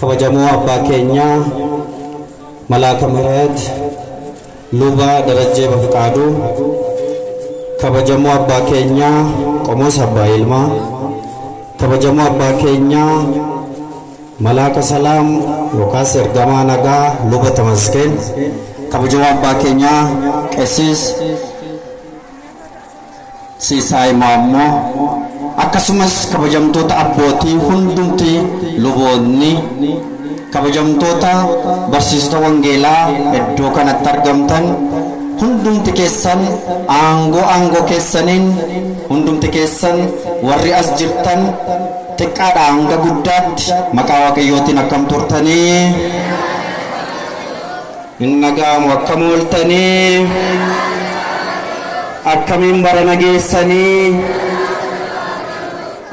Kabajamoo Abbaa keenya Malaaka Mihiret Luba Darajjee Bafiqaaduu, Kabajamoo Abbaa keenya Qomoos Abbaa Yilmaa, Kabajamoo Abbaa keenya Malaaka Salaam yookaas Ergamaa Nagaa Luba Tamaskeen, Kabajamoo Abbaa keenya Qessis, Sisaay Maammoo, akkasumas kabajamtoota abbootii hundumti luboonni, kabajamtoota barsiisota wangeelaa iddoo kanatti argamtan hundumti keessan aangoo aangoo keessaniin hundumti keessan warri as jirtan xiqqaadhaa hanga guddaatti maqaa Waaqayyootiin akkam turtanii? Hin dhaga'amu akkam ooltanii? Akkamiin barana geessanii?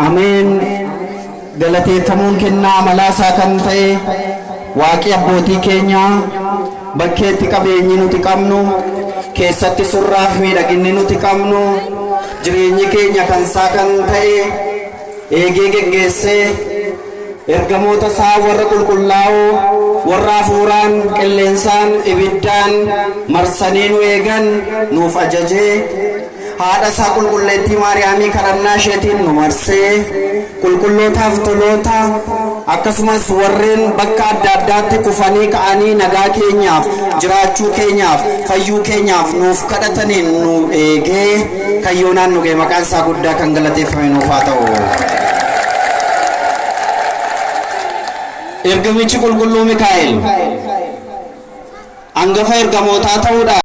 Ameen! Galateeffamuun kennaa amalaa isaa kan ta'e Waaqi abbootii keenyaa bakkeetti qabeenyi nuti qabnu, keessatti surraaf miidhaginni nuti qabnu, jireenyi keenya kan isaa kan ta'e, eegee geggeessee, ergamoota isaa warra qulqullaa'oo, warra hafuuraan, qilleensaan, ibiddaan marsanii nu eegan nuuf ajajee, haadha isaa qulqulleettii Maariyaamii kadhannaa isheetiin nu marsee, qulqullootaaf toloota, akkasumas warreen bakka adda addaatti kufanii ka'anii nagaa keenyaaf, jiraachuu keenyaaf, fayyuu keenyaaf nuuf kadhataniin nu eegee, kan yoonaan nu ga'e maqaan isaa guddaa kan galateeffame nuuf haa ta'u. Ergamichi qulqulluu Mikaa'el hangafa ergamootaa ta'uudhaan